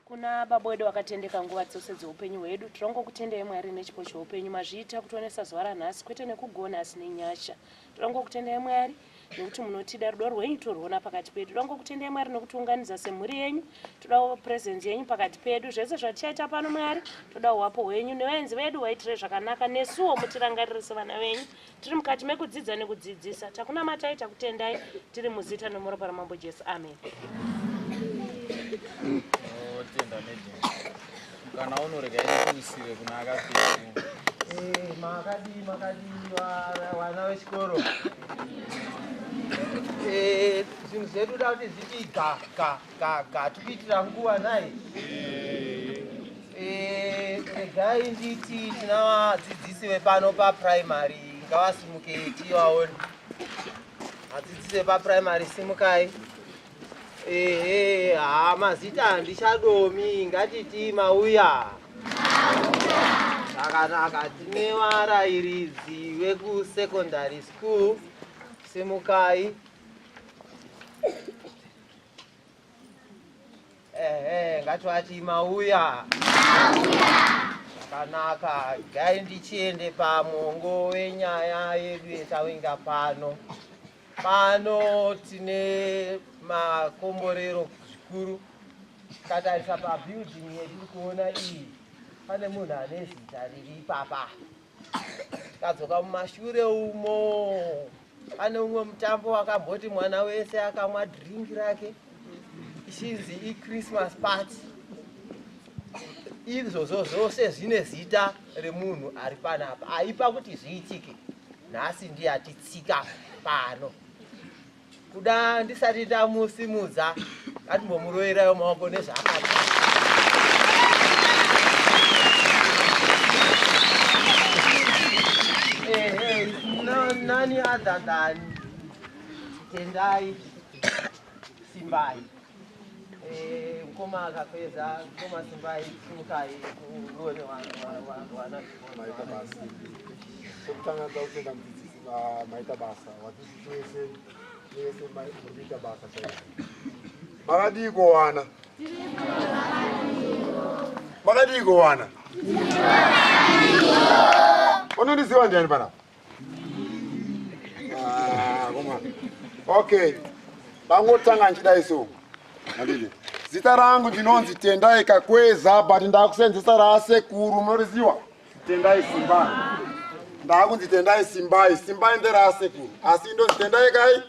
Kuna baba wedu wakatendeka nguva dzose dzeupenyu hwedu, tirongokutendai Mwari nechipo cheupenyu mazviita kutionesa zuva ranhasi kwete nekugona asi nenyasha. Tirongokutendai Mwari nekuti munotida rudo rwenyu torwona pakati pedu. Tirongokutendai Mwari nekutiunganidza semhuri yenyu. Todawo presence yenyu pakati pedu. Zvese zvatichaita pano Mwari, toda uwapo hwenyu. Nevaenzi vedu vaitire zvakanaka nesuwo mutirangarire sevana venyu. Tiri mukati mekudzidza nekudzidzisa. Takunamatai, takutendai, tiri muzita nomuropa raMambo Jesu. Amen. Totenda legend. Kana unorega ikusiwe kuna akapfeka. Eh, makadii makadii vana vechikoro. Eh, zvinhu zvedu da kuti zvitii ga ga. kaka tikuitira nguva nhai eh, regai nditi tina vadzidzisi vepano paprimary ngavasimuke tivaone vadzidzisi vepaprimary simukai ehe ha mazita handichadomi ngatiti mauya zvakanaka tine varairidzi vekusecondary school simukai Ehe, ngativati mauya. Zvakanaka, dai ndichiende pamongo wenyaya yedu yetavinga pano. Pano tine makomborero zvikuru. Tatarisa pabuilding yetiri kuona iyi, pane munhu ane zita riri ipapa. Tadzoka mumashure umo. Pane umwe mutambo wakamboti mwana wese akamwa drink rake ichinzi ichristmas party izvozvo zvose zvine zita remunhu ari panapa aipa kuti zviitike nhasi ndiye atitsika pano kuda ndisati ndamusimudza ngatimbomuroyerayo maoko nezvaakati nani other than tendai simbai eh, mkoma akapedza mkoma simbai simukai uone wana kutanga kutenda mudzidzisi maita basa watichitese Makadii kuwana? Makadii kuwana? Unondiziva ndiani panapa? Ah, okay. Vangotanga ndichidai so. Andile. Zita rangu ndinonzi Tendai Kakweza but ndakusenzesa rasekuru munoriziwa. Tendai Simba. Ndakunzi Tendai Simbai. Simbai nderasekuru. Asi indonzi Tendai kai?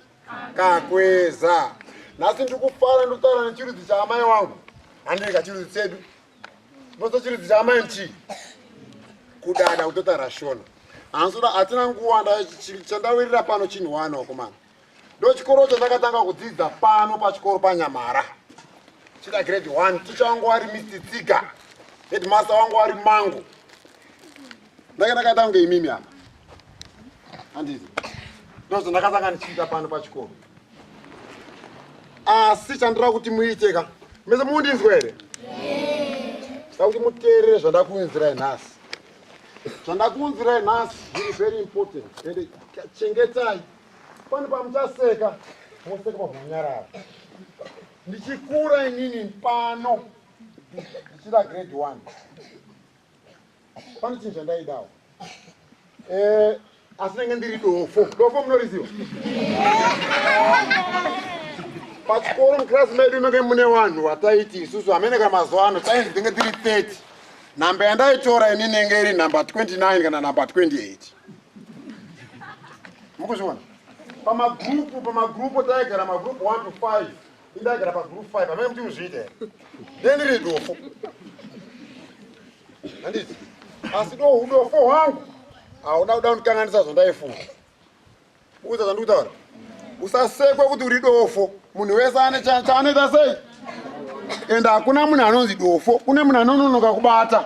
Kakweza. Nhasi ndiri kufara ndikutaura nechirudzi chaamai wangu. Handirika chirudzi chedu. Ndinoso chirudzi chaamai ndichii? Kudada kutotaura Shona. Hansoda hatina nguva chandawirira pano chinhu wani wakomana. Ndochikoro chandakatanga kudzidza pano pachikoro paNyamara. Chida grade 1, ticha wangu wari Mr. Tsiga, headmaster wangu wari Mangu. Ndake ndakaita kunge imimi apa. Handizi. Ndozvo ndakatanga ndichiita pano pachikoro. Asi chandira kuti muite ka. Mese mundinzwa here? Saka kuti muteerere zvandakuunzirai nhasi. Zvandakuunzirai nhasi zviri very important. Ende chengetai Pano pamuchaseka moseka pamhanyarara. Ndichikura inini pano ndichida grade one pane chinhu chandaidawo eh, asi nenge ndiri dofo dofo munoriziva pachikoro mukirasi medu menge mune vanhu vataiti isusu hamene kana mazuva ano tainzi ndenge ndiri 30 nhamba yandaitora ini nenge iri nhamba 29 kana nhamba 28 mukuzviona pamagrupu pamagrupu taigara magrupu 1 to 5 indaigara pagrupu 5 amene kuti uzviita here ndendiri dofo handiti asi do udofo hwangu hauda kuda kundikanganisa zvandaifunga uza zvandikutaura usasekwe kuti uri dofo munhu wese ane chaanoita sei ende hakuna munhu anonzi dofo kune munhu anononoka kubata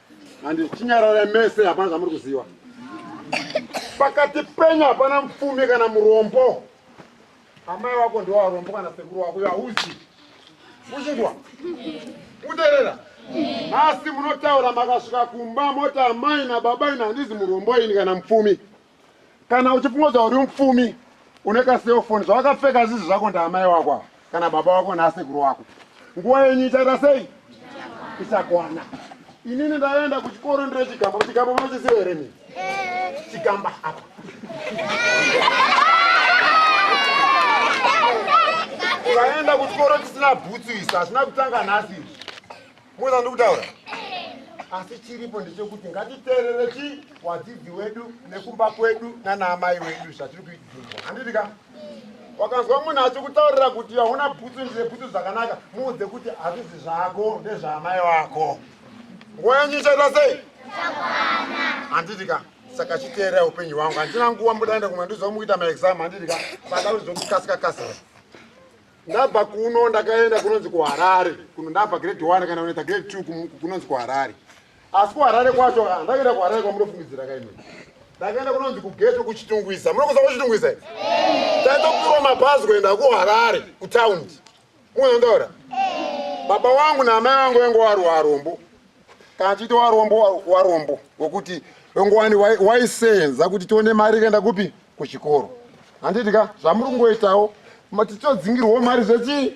handi chinyarara mese hapana zvamuri kuziva pakati penyu hapana mupfumi kana murombo amai wako ndiwo arombo kana sekuru wako yauzi uchinzwa kuterera nhasi munotaura makasvika kumba moti amai nababa ini handizi murombo ini kana mupfumi kana uchifunga kuti hauri mupfumi une kaselfoni zvawakapfeka zizvi zvako ndaamai wako ava kana baba wako naasekuru wako nguva yenyu ichaita sei ichakwana inini ndaenda kuchikoro ndire chigamba kuchigamba munochiziva here mii chigamba apa ukaenda kuchikoro chisina bhutsu isu hazvina kutanga nhasi izvi Muza ndikutaura. Asi chiripo ndechekuti ngatiteerere chi wadzidzi wedu nekumba kwedu nana amai wedu zvatiri kuidzirwa. Handiti ka? Wakanzwa munhu achikutaurira kuti hauna bhutsu ndine bhutsu zvakanaka, muudze kuti hazvizi zvako ndezvaamai wako. Nguva yenyu ichaita sei? Handiti ka? saka chiteera upenyu hwangu handina nguva mbudaenda kumwe ndizvamukuita maexam handiti ka saka uzokukasikakasira ndabva kuno ndakaenda kunonzi kuharare kuno ndabva grade one kana unoita grade two kunonzi kuharare asi kuharare kwacho ah, ndakaenda kuharare kwamunofungidzira kaimwe ndakaenda kunonzi kugeto kuchitungwiza munokuza kuchitungwiza taitopirwa mabhazi kuenda kuharare kutaundi mukunondaura baba wangu naamai vangu vange waruwa arombo kana chiita warombo warombo wekuti ngowani waisenza kuti tione mari ikaenda kupi kuchikoro handiti ka zvamuri kungoitawo tichodzingirwawo mari zvechii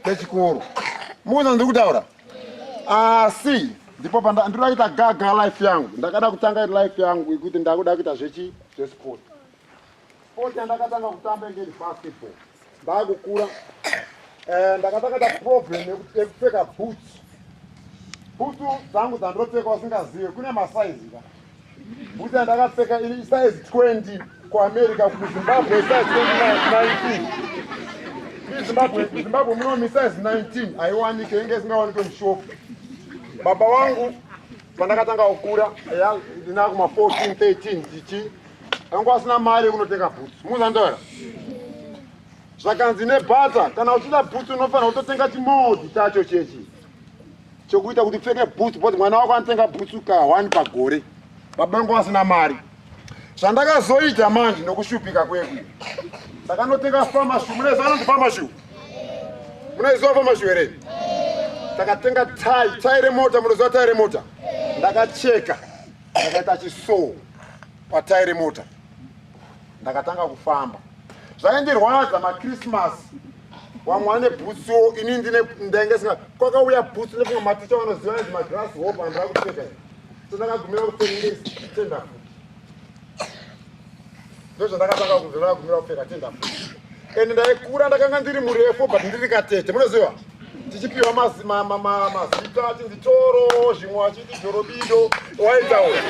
zvechikoro mukuza ndiri kutaura asi ndipo pandinoita gaga life yangu ndakada kutanga life yangu ikuti ndakuda kuita zvechi zvesport Sport yandakatanga kutamba inge iri basketball ndakukura eh, ndakatanga ta problem yekupfeka boots boots dzangu dzandinopfeka usingazive kune masaizi ka boots yandakapfeka iri size 20 kuamerica kuzimbabwe size 19 zimbabwe zimbabwe muno misize 19 haiwanike inge isingawanike mushopu baba wangu pandakatanga kukura ya ndinakuma 14 13 tichi anga asina mari yekunotenga bhutsu muzandaura zvakanzi nebhata kana uchida bhutsu unofanira kutotenga chimodhi chacho chechi chokuita kuti upfeke bhutsu bcause mwana wako anotenga bhutsu ka one pagore baba anga asina mari zvandakazoita manje nokushupika kweku ndakanotenga famashu munaiziva anonzi famashu munaiziva famashu here takatenga tai tai remota munoziva tai remota ndakacheka ndakaita chisoo patayi remota ndakatanga kufamba zvaindirwadza machristmas vamwe vane bhutsu ini ndine ndainge singa kwakauya bhutsu nekumwe maticha vanoziva nezi magras hope andira kupfeka so ndakagumira kutengesa tenda futi ndozvandakatanga kunzwa ndakagumira kupfeka tenda and ndaikura ndakanga ndiri murefu but ndiri katete munoziva tichipiwa mazita ati nditoro zvimwe achiti jorobido waitaura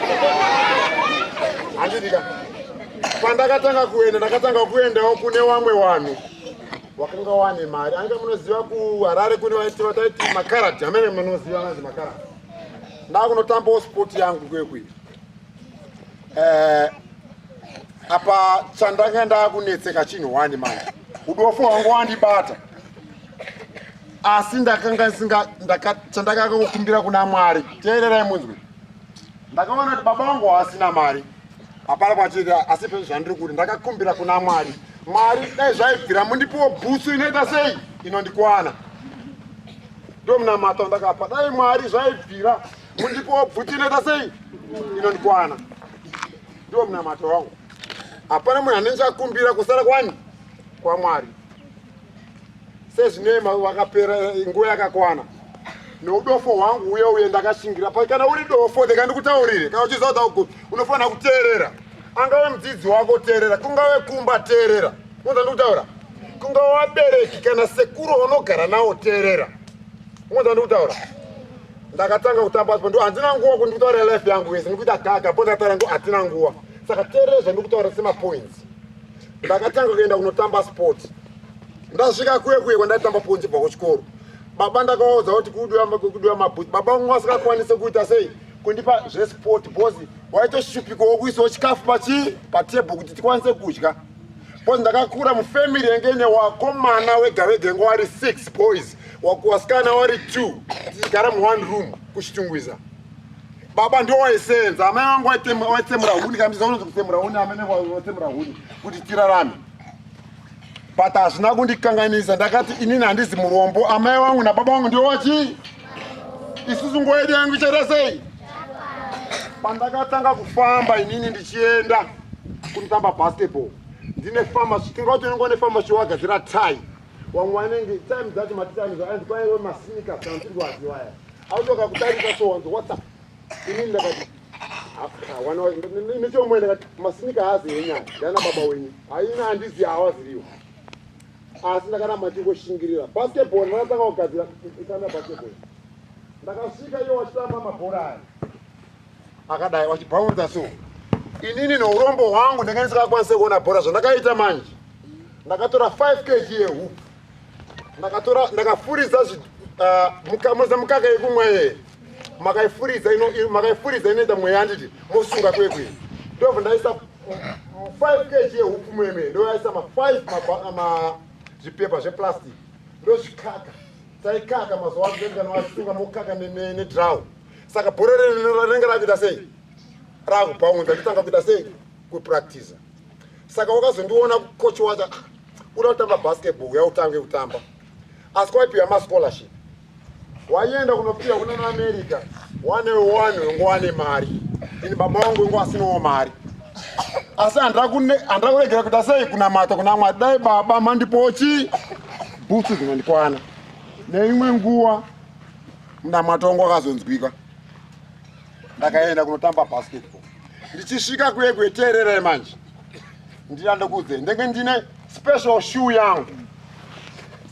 handidika pandakatanga kuenda ndakatanga kuendawo kune wamwe wanhu wakanga wane mari anga munoziva kuharare kune vaitiva taiti makarati amene munoziva ananzi makarati ndakunotambawo sport yangu kwekuita eh, apa chandanga ndakunetseka chinhu wani manje udofo wangu wandibata asi ndakanga singa chandakanga kukumbira kuna mwari teererai munzwi ndakaona kuti baba wangu haasina mari hapana kwachiri asi pezvo zvandiri kuti ndakakumbira kuna mwari mwari dai zvaibvira mundipiwo bhutsu inoita sei inondikwana ndomunamato ndakapa dai mwari zvaibvira Mundipowo bvuti inoita sei? Inondikwana. Ndiwo munamato wangu. Hapana munhu anenge akumbira kusara kwani? KwaMwari. Sezvinei wakapera eh, nguva yakakwana. Noudofo hwangu uye uye ndakashingira. Kana uri dofo, ndeka ndikutaurire. Kana uchiziva kuti unofanira kuteerera. Angave mudzidzi wako teerera, kungave kumba teerera. Unza ndikutaura? kunga wabereki kana sekuru unogara nawo teerera ungonzwa ndikutaura ndakatanga kutamba spo ndo handina nguva kuti ndikutaurira life yangu yese ndikuita gaga po ndakataura ngo hatina nguva saka teerere zvandikutaura semapoints ndakatanga kuenda kunotamba sport ndasvika kuye kuye kwandaitamba ponzi bva kuchikoro baba ndakawaudza kuti kudiwa mabhuti baba vamwe vasingakwanise kuita sei kundipa zvesport bcause waitoshupikawo kuisawo chikafu pachi patebho kuti tikwanise kudya bcause ndakakura mufamily yange ine wakomana wega vega yange wari six boys wasikana wari two tichigara muone room kuchitungwiza baba ndo waisenza amai vangu waitsemura huni kamisa unonzi kutsemura huni amai vangu waitsemura huni kuti tirarame but hazvina kundikanganisa ndakati inini handizi murombo amai vangu nababa vangu ndiwo wachii isusu nguva yedu yangu ichaita sei pandakatanga kufamba inini ndichienda kunotamba basketball ndine famashi tingaotonengwa nefamashi wagadzira tai wamwe wanenge time dzacho matitanizo anzi kwaiwe masinika kana tirwaziwaya autoka kutarisa so wanzi whatsapp inini ndakati nechomwe ndakati masinika haazi enyaya ndiana baba wenyu haina handizi hawaziriwo asi ndakaramba ndichingoshingirira basketball ndakatanga kugadzira kutamba basketball ndakasvika iyo wachitamba mabhora aya akadai wachibhaunza so inini neurombo hwangu ndanga ndisingakwanise kuona bhora zvandakaita manje ndakatora 5 kg yehup ndakatora ndakafuridza uh, mukaka yekumwa yeye makaifuridza makaifuridza inoita mweya anditi mosunga kwekwe ndobva ndaisa 5 kg yehupfu mwemene ndoyaisa ma5 zvipepa zveplastic ndozvikaka taikaka mazuva aanoasunga mokaka nedraw saka bhora rinenge rakuita sei rakupaunza nditanga kuita sei kupractiza saka wakazondiona coach wacho ah, uda kutamba basketball uya utange kutamba asi kwaipiwa mascholarship waienda kunopira kuna maamerica one one wengo wane mari ini baba wangu wengo asinowo mari asi handira kuregera kuita sei kunamata kuna mwari dai baba mandipochi bhutsu dzinondikwana neimwe nguva munamatongo akazonzwika ndakaenda kunotamba basketball ndichisvika kuye kueteerere manje ndina ndokuudze ndenge ndine special shoe yangu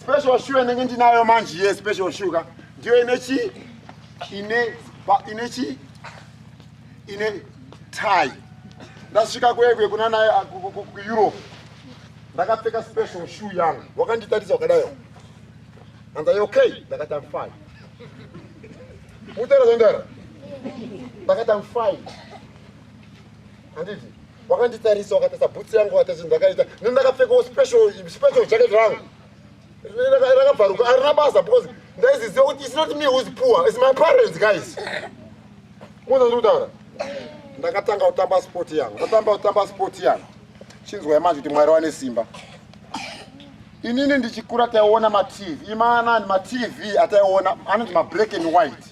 special shoe ndenge ndinayo manje ye special shoe ka ndiyo ine chi ine ine chi ine tie ndasvika kuye kuye kuna naye kueurope ndakapfeka special shoe yangu wakanditarisa wakadayo anzai okay ndakati am fine Mutara zvandara. Ndakati I'm fine. Handiti? Wakanditarisa wakatarisa bhutsi yangu wakatarisa ndakaita. Nini ndakapfekawo special special jacket rangu. Rakabvaruka arina basa because ndaiziziva kuti it's not me who's poor, it's my parents guys. Muzwa ndiri kutaura? Ndakatanga kutamba sport yangu. Ndatamba kutamba sport yangu. Chinzwai manje kuti Mwari wane simba. inini ndichikura taiona matv imaanani matv ataiona anoti mablack and white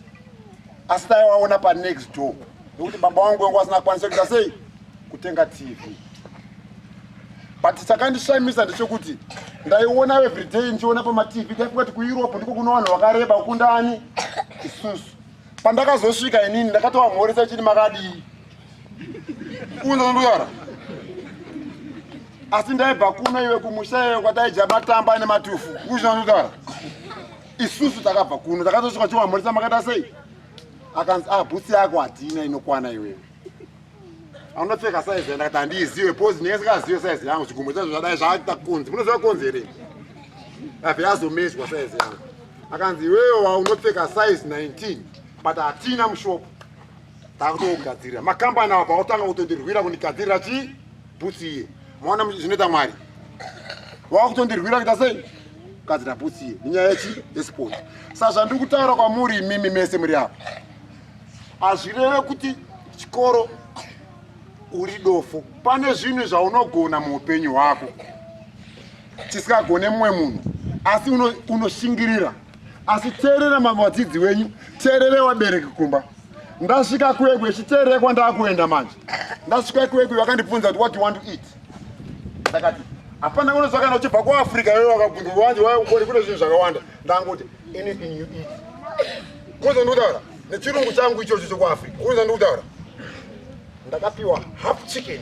asi taiwaona panext door nekuti baba wangu wangu asina kwanisa kuita sei kutenga tv but chakandishamisa ndechekuti ndaiona everyday ndichiona pamatv taifunga kuti kueurope ndiko kuno vanhu vakareba kundani isusu pandakazosvika inini ndakatowamhoresa chini makadii unza nduyara asi ndaibva kuno iwe kumusha iwe kwataidya matamba ane matufu kuzvina nduyara isusu takabva kuno takatosvika chimamhorisa makaita sei akanzi a ah, bhutsi yako hatina inokwana iwewe anopfeka saizi ya ndakati handiizive pozi ndinenge sikazive saizi yangu zvigumbo chazvo zvadai zvaaita kunzi munoziva kunzi here abve azomezwa saizi yangu akanzi iwewe waunopfeka saizi 19 but hatina mushopo takutogadzirira makambani awa pakutanga kutondirwira kundigadzirira chii bhutsi iye maona zvinoita mwari wakutondirwira kuita sei kugadzira bhutsi iye nenyaya yechi yesport sa zvandiri kutaura kwamuri imimi mese muri apa hazvireve kuti chikoro uri dofo pane zvinhu zvaunogona muupenyu hwako chisingagone mumwe munhu asi unoshingirira uno asi teerera mamwe vadzidzi wenyu teerere wabereki kumba ndasvika kwekwe chiteerere kwandakuenda manje ndasvika kwekwe vakandibvunza kuti what you want to eat ndakati hapana kuno zvakana uchibva kuafrica iwe wakabvunza wanje waukori kune zvinhu zvakawanda ndangoti anything you eat kuza ndikutaura nechirungu changu ichocho chokuafrica kuza ndikutaura ndakapiwa half chicken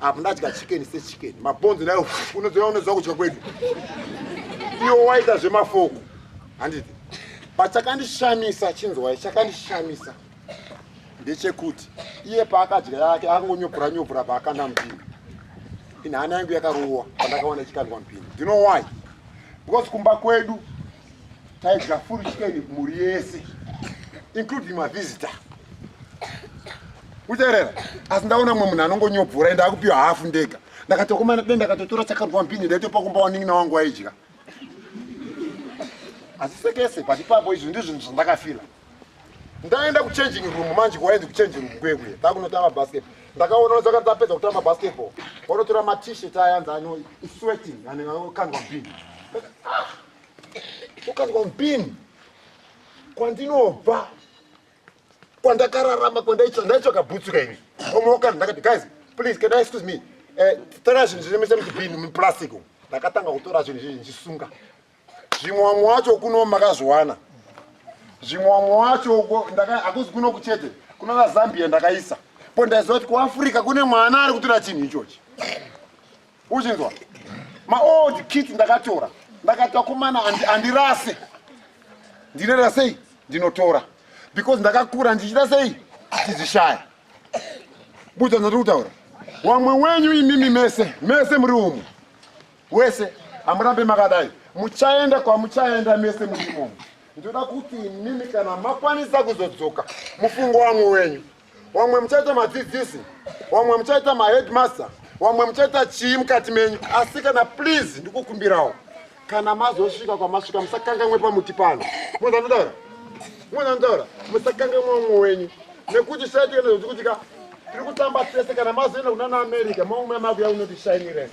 apo ndadya chicken sechicken mabhonzo nayo unoziva unoziva kudya kwedu iwo waita zvemafoko handiti pachakandishamisa chinzwai chakandishamisa ndechekuti iye paakadya yake akangonyopura nyopura paakanda mupini inhana yangu yakarowa pandakaona ichikandwa mupini ndino why because kumba kwedu taidya full chicken mhuri yese including mavisitor kuterera asi ndaona mumwe munhu anongonyobvura ende akupiwa hafu ndega ndakatokomana dai ndakatotora chakarwa mbini ndaitopa kumba wanin'ina wangu waidya asi sekese pati papo izvi ndi zvinhu zvandakafila ndaenda kuchanging room manje kwaendi kuchanging room kwekwe takunotamba basketball ndakaona wezakati tapedza kutamba basketball wanotora matishet ayanzi ano sweating anekandwa mbini ah! ukanzwa mpini kwandinobva kwandakararama kwandaitsva ndaitsvaka bhutsuka ini omaokana ndakati guys please can i excuse me eh, tora zvinhu zvinemese muchibhini muplastic ndakatanga kutora zvinhu zvizvi ndichisunga zvimwe wamwe wacho kuno makazviwana zvimwe wamwe wacho uko hakuzi kuno kuchete kuno vazambia ndakaisa po ndaiziva kuti kuafrica kune mwana ari kutora chinhu ichochi uchinzwa maold kit ndakatora ndakatora kumana handirase ndinoita sei ndinotora because ndakakura ndichita sei ndichizvishaya buda ndiri kutaura wamwe wenyu imimi mese mese muri umu wese hamurambe makadai muchaenda kwamuchaenda mese muri umu ndoda kuti imimi kana makwanisa kuzodzoka mufungo wamwe wenyu wamwe muchaita madzidzisi wamwe muchaita maheadmaster wamwe muchaita chii mukati menyu asi kana please ndikukumbirawo kana mazosvika kwamasvika musakangamwe pamuti pano munhu anotaura munhu anotaura musakangamwe umwe wenyu nekuti shaiti enozokuti ka tiri kutamba tese kana mazoenda kuna naamerica maumwe makuya unoti shine rese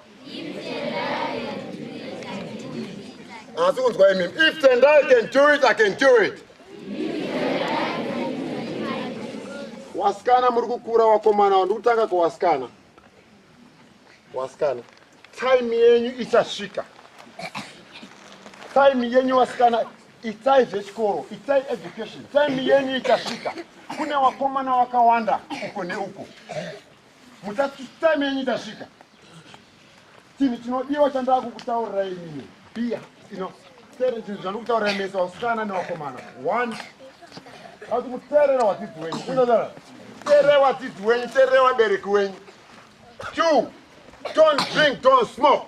asi kunzwa imimi if tendai can do it i can do it wasikana muri kukura wakomana wa ndikutanga kwawasikana wasikana time yenyu ichasvika time yenyu wasikana itai zvechikoro itai education time yenyu ichasvika kune wakomana wakawanda uko neuko Mutatu time yenyu itasvika. Chinhu chinodiwa chandava kukutaurira inini. Biya ino tere chinhu chandikutaurira mese vasikana nevakomana. One. Asi muterera wadzidzi wenyu. Kunodara. Tere wadzidzi wenyu, tere wabereki wenyu. Two. Don't drink, don't smoke.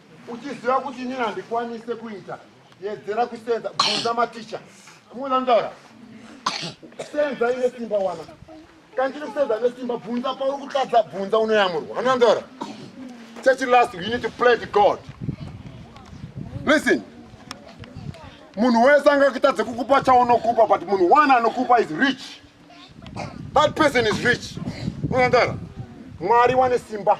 uchiziva kuti inini handikwanise kuita yedzera kusenza bvunza maticha muona ndaura senza ine simba wana kana ndiri kusenza ine simba bvunza pauri kutadza bvunza unoyamurwa anoona ndaura church last you need to play to god listen munhu wese angakutadze kukupa chaunokupa but munhu one anokupa is rich that person is rich unoona ndaura mwari wane simba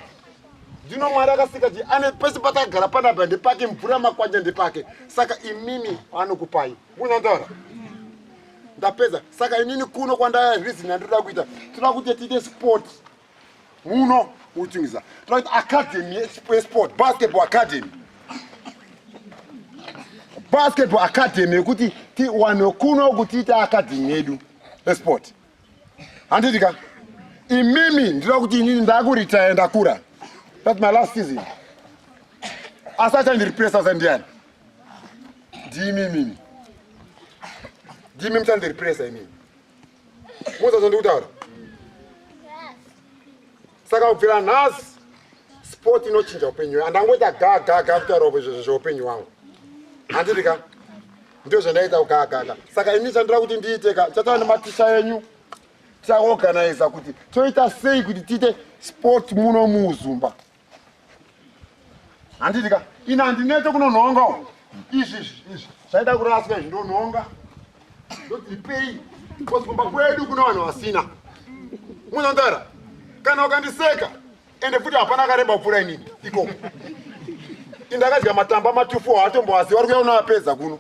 ndino mwari akasika ti ane pese patakagara panapa ndepake mvura makwanja ndepake saka imimi anokupai munandaura ndapedza saka inini kuno kwandaya reason yandinoda kuita tinoda kuti tiite sport muno utungiza tinoda kuti academy esport basketball academy basketball academy yekuti tiwane kuno kutiita academy yedu esport handiti ka imimi ndinoda kuti inini ndakuritaya ndakura that my last season asi achandirepresa sandiani ndimimini ndimi muchandirepresa imimi muzazondikutaura saka kubvira nhasi sport inochinja upenyu andangoita gagaga kutaurwa izvezvo zveupenyu wangu handiti ka ndo zvandaita kugagaga saka ini chandira kuti ndiite ka chataura nematisha enyu tichaorganiza kuti toita sei kuti tiite sport muno muuzumba handiti ka ini handinete kunonhonga u izvi izvi izvi zvaida kuraswa izvi ndonhonga ndodzipei bcause kumba kwedu kuna vanhu vasina munondara kana ukandiseka ende futi hapana akareba kupfuura inini ikoko indakadya matamba matufu haatomboaziva ri kuya unoapedza kuno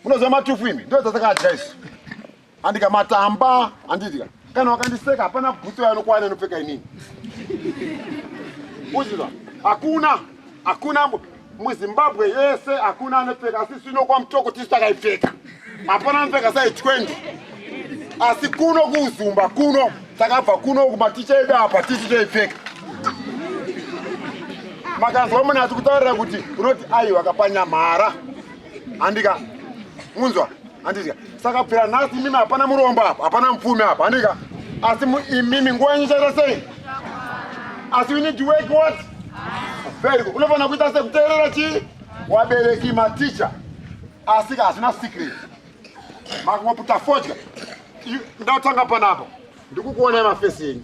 unoziva matufu imi ndodzasakadya isu Andika matamba andidya. Kana wakandiseka hapana bhutsu yanokwana inopfeka inini. Uzviza. Hakuna. Hakuna muZimbabwe yese hakuna anopfeka asi sino kwamutoko tisu takaipfeka. Hapana anopfeka sai 20. Asi kuno kuzumba kuno takabva kuno kumaticha edu apa tisu taipfeka. Makanzwa munhu ati kutaurira kuti unoti aiwa kapanyamhara. handika munzwa handidya saka pera nhasi imimi hapana murombo apa hapana mupfumi apa handika asi imimi nguva yenyu chaita sei asi you need to work what very good unofanira kuita sei kuteerera chii wabereki maticha asika hazvina secret makumaputa fodya ndatanga panapo ndikukuonai mafesi enyu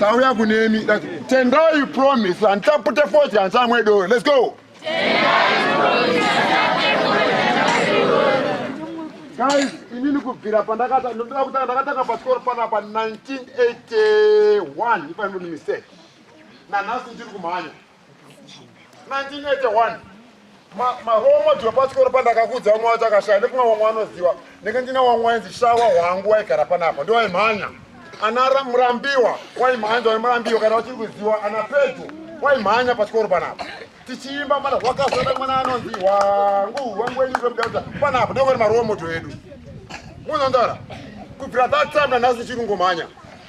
tauya kunemi tendai promise handitapute foti handichamwe doro let's go guys inini kubvira pandakata ndinoda kutanga ndakatanga pasikoro panapa 1981 if i'm not mistake nanhasi ndiri kumhanya 1981 maromoto epachikoro pandakakudza vamwe vacho akashaya nekumwe vamwe vanoziva ndenge ndina vamwe wainzi shawa hwangu waigara panapa ndo waimhanya ana murambiwa waimhanya waimurambiwa kana vachiri kuziva ana pedyo waimhanya pachikoro panapa tichiimba mana zvakasana mwana anonzi wangu wangu wenyu zvemudaudza panapa ndokoni maromoto edu munonzara kubvira that time nanhasi tichiri kungomhanya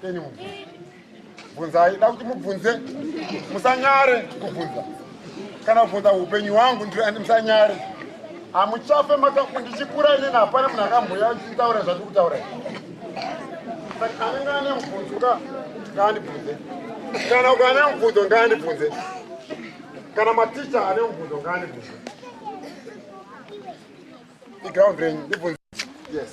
Keni mubvunze. Bvunzai, da kuti mubvunze. Musanyare kubvunza. Kana kubvunza upenyu wangu ndiri andi musanyare. Hamuchafe maka ndichikura ini hapana munhu akamboya nditaura zvati kutaura. Saka anenge ane mubvunzo ka ngaandibvunze. Kana ukane mubvunzo ngaandibvunze. Kana maticha ane mubvunzo ngaandibvunze. Iground renyu ndibvunze. Yes.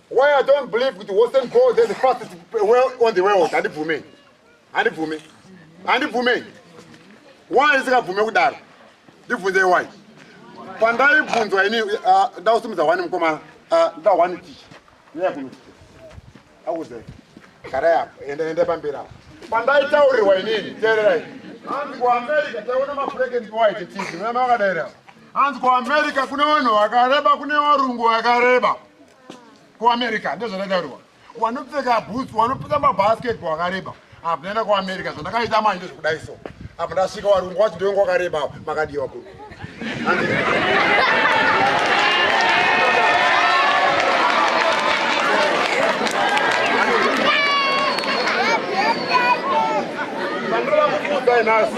Why I don't believe kuti Western gold is the fastest well on the world. Handibvume. Handibvume. Handibvume. Why isingabvume kudaro? Ndibvunzei why. Pandaibvunzwa ini uh, ndausimudza wani mukomana. Uh, Nda wani ticha. Nyaya kuno. Akuze. Kara yako. Enda enda pamberi apo. Pandaitaurirwa inini. Teererai. Hanzi ku America taiona mafureke ndi white tizi. Mwana wakadaira. Hanzi ku America kune vanhu vakareba kune varungu vakareba. kuamerica ndozvandataurwa wanopfeka boots wanopfeka mabasketball akareba apa ndaenda kuamerica zvandakaita manje zvekudai so apa ndasvika warungu wacho ndionga wakareba apa makadiwa kuru nhasi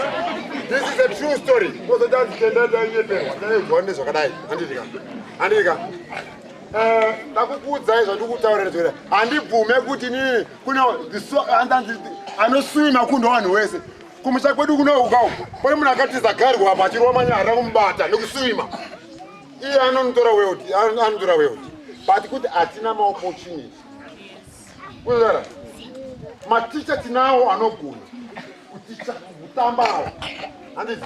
this is a true story kozotanzi tendadaiyeperwa taedzwa nezvakadai andidika andika eh, ndakukuudzai zvandikutaurira handibvume kuti nini kune anosuwi makundo vanhu wese kumusha kwedu kunoukawo pane munhu akatiza garwa apa achirwa manya harina kumubata nekusuima iye anonotora weoti anotora weoti but kuti hatina maopportunity kuzara maticha tinawo anogona kuticha kutambawo handizi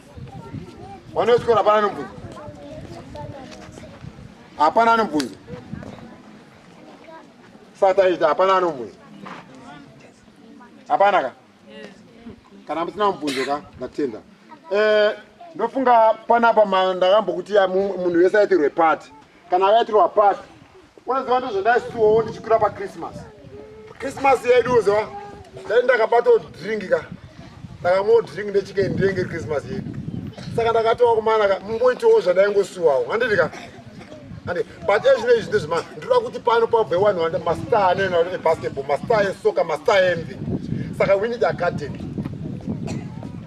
Mwana wechikoro hapana anobvunza, hapana anobvunza. Sataita hapana anobvunza, hapana ka kana musina mubvunzo ka ndatenda. Eh, ndofunga panapa ndakambokuti munhu wese aitirwe pati kana akaitirwa pati unoziva ndozvandaisuwawo ndichikwira pachristmas christmas yedu uziva ndai ndakabatawo drink ka ndakamwawo drink ndechikei ndenge christmas yedu saka ndakatowa kumana ka mumboitiwo zvandaingosuwawo handiti ka ande but ezvino izvi ndezvima ndinoda kuti pano pabve wanhu wanda mastar anena kuti ebasketball mastar esoka mastar envi saka we need academy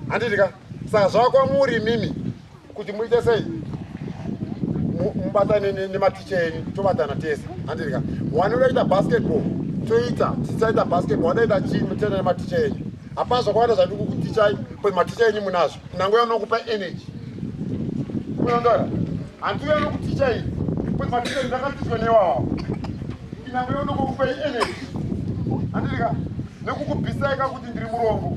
handiti ka saka zvakwa muri mimi kuti muite sei mubatane nematicha enyu tobatana tese handirika wani unoita basketball toita tisaita basketball wanoita chii mutenda nematicha enyu hapana zvakawanda zvadi kukutichai but maticha enyu munazvo nango yanokupa energy kunondoa hanti uyo anokuticha ii but maticha enyu ndakatichwa newawa inango yonokukupai energy handirika nekukubhisaika kuti ndiri murombo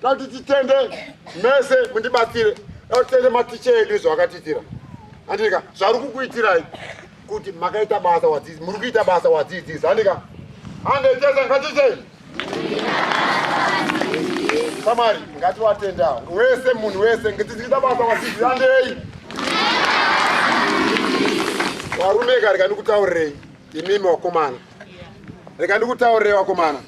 Tati titende mese mundibatsire tende maticha edu izvo akatiitira andika zvari kukuitirai kuti makaita basa wadzidzi muri kuita basa wadzidzisi andika andetese ngatitei samari ngatiwatenda wese munhu wese ngetiziita basa wadzidzi andei warume ka reka ndikutaurirei imimi wakomana reka ndikutaurirei wakomana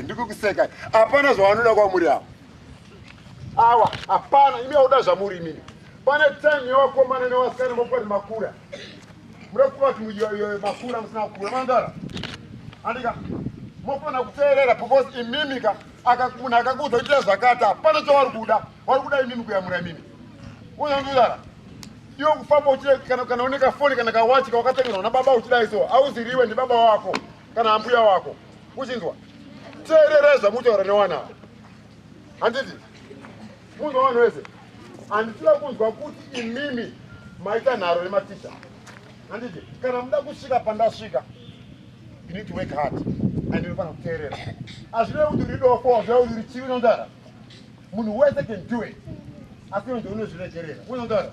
ndikukuseka hapana zvavanoda kwamuri ava awa hapana imi auda zvamuri imini pane time yevakomana nevasikana mokuvati makura muda kuvati makura musina kukura mandara andika mofanira kuteerera because imimika munhu akakuudza kuita zvakati hapana chavari kuda wari kuda imimi kuyamura imimi unondudara iwe kufamba uchida kana kana une kafoni kana kawachi kawakatengerwa nababa uchida iso auziriwe ndibaba wako kana ambuya wako uchinzwa teerera zvamuchitaura newana handiti munzwa vanhu vese handisida kunzwa kuti imimi maita nharo nematicha handiti kana muda kusvika pandasvika you need to work hard and inofanira kuteerera hazvive kuti uri dofo hazvive kuti uri chivi nondara Munhu wese can do it. Asi iwe ndiwe unozviregerera. Unonzwa?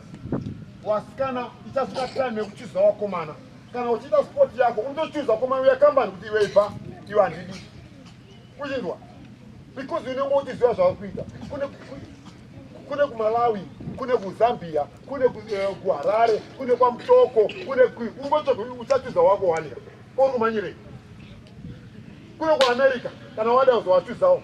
Wasikana ichasvika time yekuchuza wakomana. Kana uchiita sport yako unochuza wakomana uya kambani kuti iwe ibva iwe handidi. Uchinzwa? Because unenge uchiziva zvauri kuita. Kune kune kumalawi kune kuzambia kune eh, kuharare kune kwamutoko kune uchachuza wako wanika ori kumanyirei kune kuamerica kana wada uzowachuzawo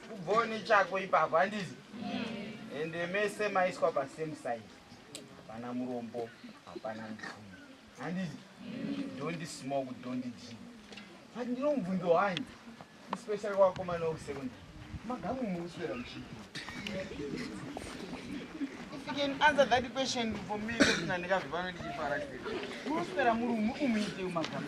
Kubvawo nechako ipapo handizi ende mese maiswa pasame side hapana murombo hapana mupfumi handizi dondi smoke dondi drink but ndino mubvunzo wanyi especially kwakomana wekusekondary magamu mukuswera muchii If you can answer that question for me, ndikazvipano ndichifara. Munoswera muri umu umuite umagamu.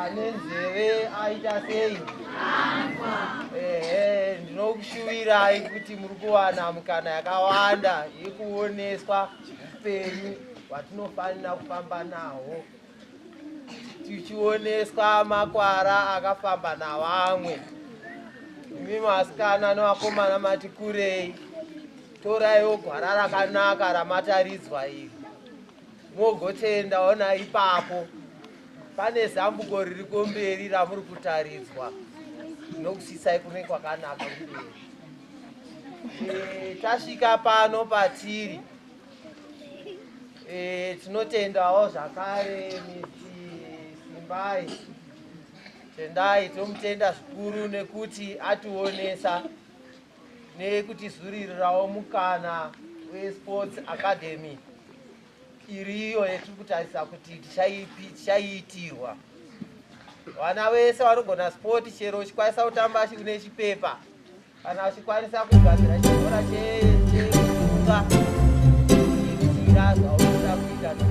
ane nzeve aita sei ehe ndinokushuvirai kuti muri kuwana mukana yakawanda yekuoneswa upenyu hwatinofanira kufamba nahwo tichioneswa makwara akafamba navamwe imi masikana nevakomana mati kurei toraiwo gwara rakanaka ramataridzwa iri mogotenda ona ipapo pane zambuko riri kumberi ramuri kutaridzwa nokusisai kune kwakanaka kumberi e, tasvika pano patiri e, tinotendawo zvakare simbai tendai tomutenda zvikuru nekuti ationesa nekutizuririrawo mukana weSports Academy iriyo yetiri kutarisa kuti tichaiitirwa. Vana vese vanogona sport chero uchikwanisa kutamba une chipepa kana uchikwanisa kugadzira chikora cheunga iitirwa zvaunoda kuita.